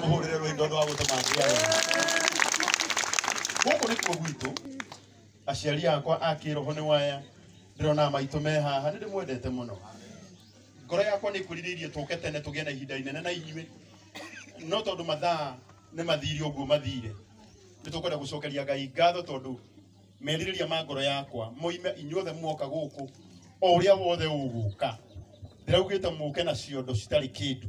tũmũhũrĩre rwĩndo rwa gũtũmangia wega gũkũ nĩkuo gwitũ aciari akwa a kĩroho nĩ waya ndĩrona maitũ me haha nĩ ndĩmwendete mũno ngoro yakwa nĩ kwĩrirĩirie tũke tene tũgĩe na ihinda inene na inyuĩ no tondũ mathaa nĩ mathire ũguo mathire nĩ tũkwenda gũcokeria ngai ngatho tondũ merirĩria ma ngoro yakwa moime inyuothe muoka gũkũ o ũrĩa wothe ũgũka ndĩraugĩte mũke na ciondo citarĩ kĩndũ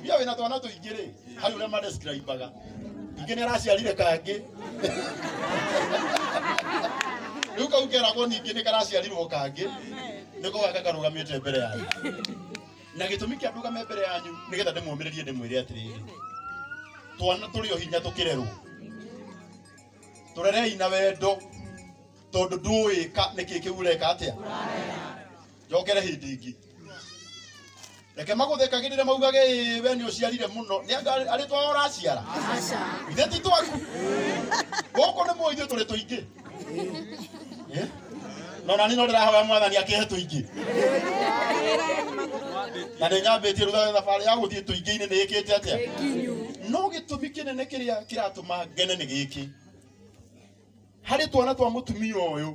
Mbia wĩna twana tũingĩ rĩ harĩ ũrĩa madescribaga ingĩ nĩ araciarire kangĩ rĩu kau keragwo ningĩ nĩ karaciarirwo kangĩ nĩko gaka karũgamĩte mbere yanyu na gĩtũmi kĩa ndũgame mbere yanyu nĩgetha ndĩmũmĩrĩrie ndĩmwĩre atĩrĩrĩ twana tũrĩ o hinya tũkĩrerwo tũrerei na wendo tondũ ndũĩka nĩkĩ kĩu ũreka atĩa njokere hĩndĩ ĩngĩ reke magũthekagĩrĩre maugage "Ĩĩ, we nĩ ũciarire mũno nĩ anga arĩ twao ũraciara ithe ti twaku gũkũ nĩ mũithuĩ tũrĩ tũingĩ Eh? no nani no ndĩrahoya mwathani akĩhe tũingĩ na nĩ nyambĩtie rutha thabarĩ ya gũthiĩ tũingĩ-inĩ nĩ ĩkĩte atĩa no gĩtũmi kĩnene kĩrĩa kĩratũma ngene nĩ gĩkĩ harĩ twana twa mũtumia ũyũ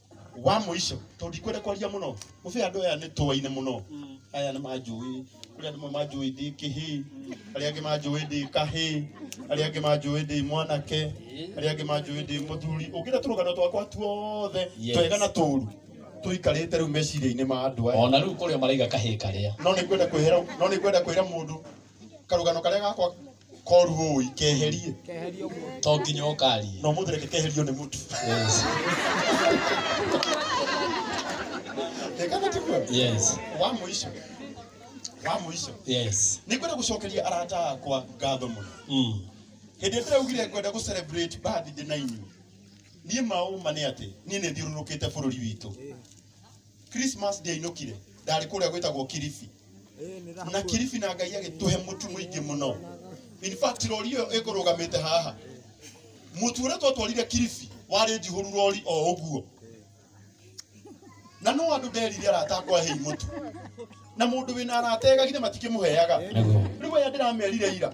wa mũico tondũ ndikwenda kwaria mũno mũbĩ andũ aya nĩ tũwaine mũno aya nĩ manjũĩ kũrĩ andũ amwe manjũĩ ndĩ kĩhĩ arĩa angĩ manjũĩ ndĩ kahĩ arĩa angĩ manjũĩ ndĩ mwanake arĩa angĩ manjũĩ ndĩ mũthuri ũngĩra tũrũgano twakwa tuothe Yes. twega na tũũru tũikarĩte rĩu meciria-inĩ ma andũ aya ona rĩu kũrĩa maraiga kahĩ karĩa no nĩ kwenda kwĩhera no nĩ kwenda kwĩra mũndũ karugano karia gakwa koru ũĩ keherie to nginya ũkaria no mũthĩ reke keherio nĩ mũtu yes rekana tiguo yes wa mũico wa mũico yes nĩ kwenda gũcokeria arata akwa ngatho mũno mm. hĩndĩ ĩrĩa ndĩraugire ngwenda gũ celebrate birthday na inyuĩ niĩ maũma nĩ atĩ niĩ nĩ thiũrũrũkĩte bũrũri witũ Christmas ndiainũkire ndarĩ kũrĩa gwĩtagwo Kilifi na Kilifi na Ngai agĩtũhe mũtu mũingĩ mũno in fact rori ĩyo ĩkũrũgamĩte haha mũtu ũrĩa twatwarire Kilifi warĩ njihũru rori o ũguo na no andũ nderire arata akwa hei mũtu na mũndũ wĩna arata egagire matikĩmũheaga rĩu aya ndĩramerire ira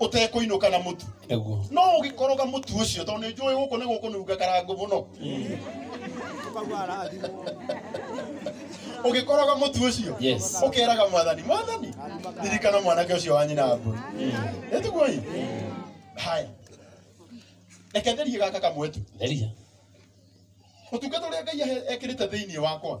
ũtekũinũka na mũtu Naguo. no ũgĩkoroga mũtu ũcio tondũ nĩ njũĩ gũkũ nĩ gũkũnunga karango mũno ũgĩkoroga mũtu ũcio Yes. ũkeraga mwathani mwathani ririkana mwanake ũcio wa nyina mbũri nĩtiguoi haya reke nderie gaka kamwe tu Theria. ũtungata ũrĩa ngai ahe- ekĩrĩte thĩinĩ wakwa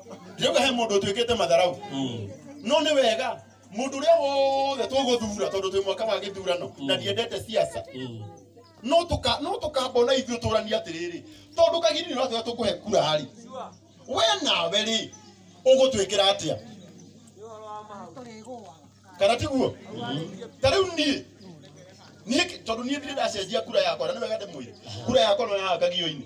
ndiuga he mundu tuikite matharau no ni wega mundu uria wothe tuguthura tondu twi mwaka wa githurano na ndiendete siasa no tuka no tukambona ithuĩ tũrania atĩrĩrĩ tondũ kagiri nĩ ũratwĩra tũkũhe kura rĩ we nawe rĩ ũgũtwĩkĩra atĩa kana tiguo ta rĩu niĩ niĩ tondũ niĩ ndirĩ ndacenjia kura yakwa na nĩ wega ndĩmwĩre kura yakwa no yahangagio-inĩ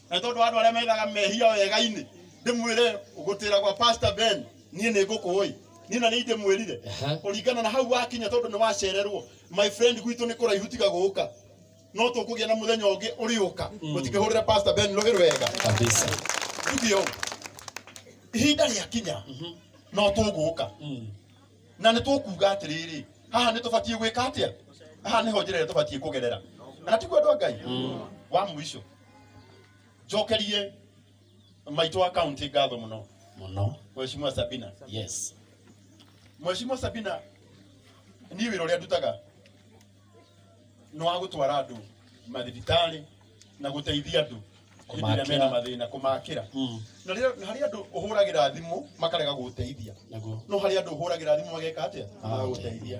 na tondu andu aria methaga mehia wega-ini ndimwire gutira gwa pastor ben nie ni ngukuwi nie na ni ndimwirire Aha. kuringana na hau wakinya tondu ni wacererwo my friend gwitu ni kuraihu tiga guka no tukugia na muthenya ungi uriuka utikihurira pastor ben rugi rwega kabisa ndio ihinda riakinya no tũgũka na nĩ tũkuga atĩrĩrĩ haha nĩ tũbatiĩ gwĩka atĩa haha nĩho njĩra ĩrĩa tũbatiĩ kũgerera na tiguo andũ a ngai wa mũico njokerie maitũ wa kaunti ngatho mũno mũno mheshimiwa sabina yes mheshimiwa sabina niĩ wĩra ũrĩa ndutaga nĩ wa gũtwara andũ mathibitarĩ na gũteithia andũ hĩndĩ ĩrĩa mena mathĩna kũmakĩra Mm. na rĩrĩa- na harĩ andũ ũhũragĩra thimũ makarega gũteithia naguo no harĩ andũ ũhũragĩra thimũ mageka atĩa magũteithia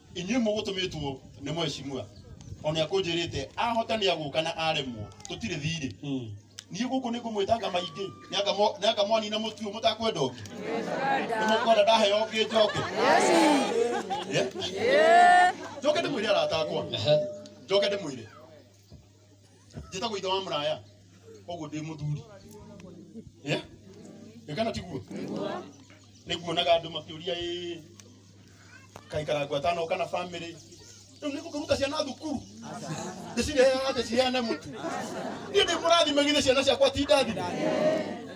inyuĩ mũgũtũmĩtwo nĩ mwecimua o nĩ akũnjĩrĩte ahota nĩ agũka na aremwo tũtirĩ thirĩ niĩ gũkũ nĩ ngũmwĩtanga maingĩ nĩangamwanina mũtu ũyũ mũtakwenda ũngĩ nĩ mũkwenda ndaheo ũngĩ njoke njoke ndĩmwĩre aratakwa njoke ndĩmwĩre njĩta gwitha wa mũraya koguo ndĩ mũthuri Eh? Ĩ kana tiguo nĩguonaga andũ makĩũria ĩ kaikarangwa tano kana bamĩrĩ rĩu nĩgũkĩruta ciana thukuru ndĩcirehaga ndĩciheane mũtu niĩ ndĩ mũrathime githĩ ciana ciakwa ti ndathime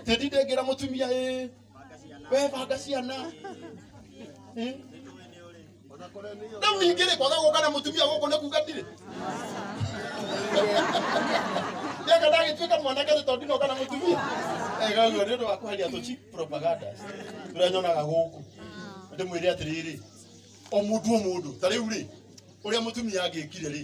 tĩndi ndĩngĩra mũtumia ĩ we banga ciana Eh? rĩu ningĩ rĩ kwaga gũka na mũtumia gũkũ nĩ kuga ndirĩ ndeka ndagĩtuĩka mwanake nĩ tondũ ndinoka na mũtumia ega guo nĩ ũndũ wa kweheria tũci propagandas tũrĩa nyonaga gũkũ ndĩmwĩre atĩrĩrĩ o mũndũ o mũndũ ta rĩu rĩ ũrĩa mũtumia angĩkire rĩ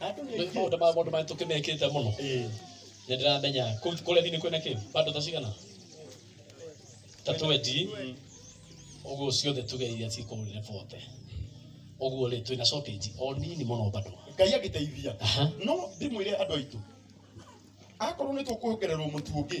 Andũ nĩ Nĩ maũndũ ma mũndũ marĩa tũkĩmekĩte mũno Eh, nĩ ndĩramenya kũu kũrĩa thiinĩ kwĩna kĩ bado ta cigana ta twendi ũguo ciothe tũgeire cikũrĩre bote ũguo rĩ twĩna shortage o nini mũno bado Ngai agĩteithia. Aha. No ndĩmwĩre andũ aitũ. Akorwo nĩ tũkuongererwo mũtu ũngĩ,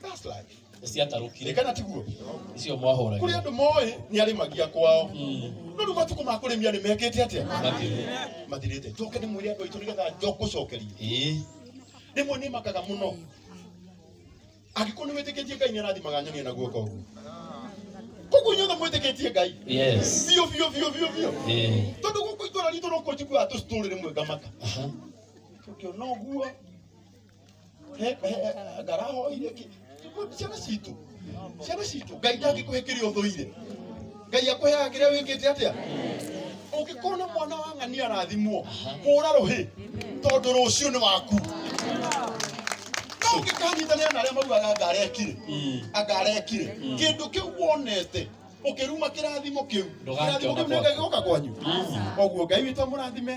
That's life. ciatarũkire Rekana tiguo. icio Kũrĩ mwahũragia andũ moĩ nĩ arĩmagia kwao. No rĩu matukũ ma kũrĩmia nĩ mekĩte atĩa? Mathirĩ. Mathirĩte. Njoke nĩ mwĩre andũ aitũ nĩgetha njokũcokeria. Ĩĩ. Rĩmwe nĩ makaga mũno. Angĩkorwo nĩ wĩtĩkĩtie Ngai nĩ arathimaga nyoni na guoko ũguo. Koguo inyuothe mwĩtĩkĩtie Ngai. Yes. Biũ biũ biũ biũ biũ. Ĩĩ. Tondũ gũkũ itũra ritũ no kũnjiguaga tũcitũrĩ rĩmwe ngamaka. Aha. Tũkĩona ũguo He- he- he- ngarahoire ki- ki- ciana citũ ciana citũ ngai ndangĩkũhe kĩrĩa ũthũire ngai akũheaga kĩrĩa wĩkĩte atĩa ũngĩkorwo na mwana wa ng'ania arathimwo hũra rũhĩ tondũ rũciũ nĩ waku no ũngĩkanyitanĩra na arĩa maugaga angarekire angarekire kĩndũ kĩu wonete ũkĩruma kĩrathimo kĩu Ndũgakĩona kĩrathimo kĩu nĩ ngai gĩoka kwanyu koguo ngai witũ amũrathime